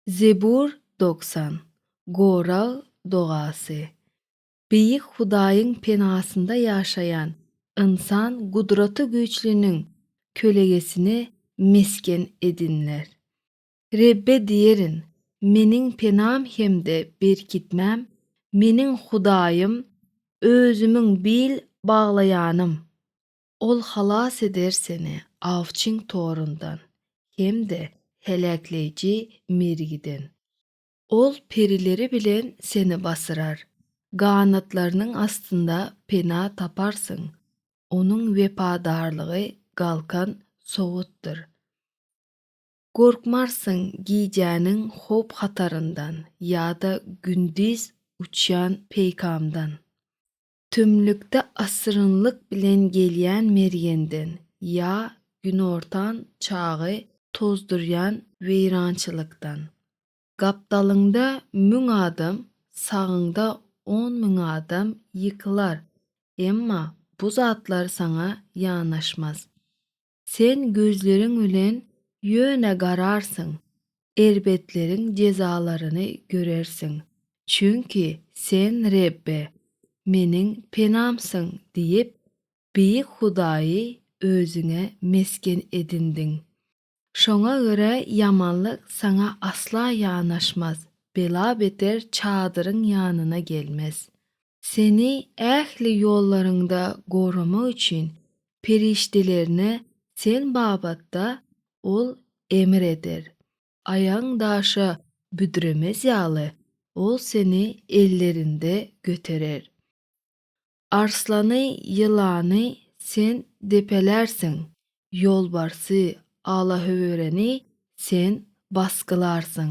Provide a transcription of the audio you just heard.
Zebur dogsan, Gorag dogasy. Beýik Hudaýyň penasynda ýaşaýan ynsan Gudraty Güýçliniň kölegesini mesgen edinler. Rebbe diýerin, Meniň penam hem-de berkitmäm, meniň Hudaýym, özümiň bil baglaýanym. Ol halas eder seni awçyň torundan hem-de heläkleýji mergiden. Ol perileri bilen seni basyrar, ganatlarynyň astynda pena taparsyň. Onuň wepadarlygy galkan sowutdyr. Gorkmarsyň gijäniň howp-hataryndan ýa-da gündiz uçýan peýkamdan. Tümlükde asyrynlyk bilen gelýän Mergenden ýa günortan çagy tozdurýan weýrançylykdan. Gapdalyňda müň adam, sagyňda on müň adam ýykylar, emma bu zatlar saňa ýanaşmaz. Sen gözleriň bilen ýöne gararsyň, erbetleriň jezalaryny görersiň, çünki Sen Rebbe, meniň penamsyň diýip, Beýik Hudaýy özüňe mesgen edindiň. Şoňa görä ýamanlyk saňa asla ýanaşmaz, bela-beter çadyryň ýanyna gelmez. Seni ähli ýollaryňda goramak üçin perişdelerine sen babatda Ol emr eder. Aýagyň daşa büdremez ýaly, Ol seni ellerinde göterer. Arslany, ýylany Sen depelärsiň, ýolbarsy, alahöwüreni Sen basgylarsyň.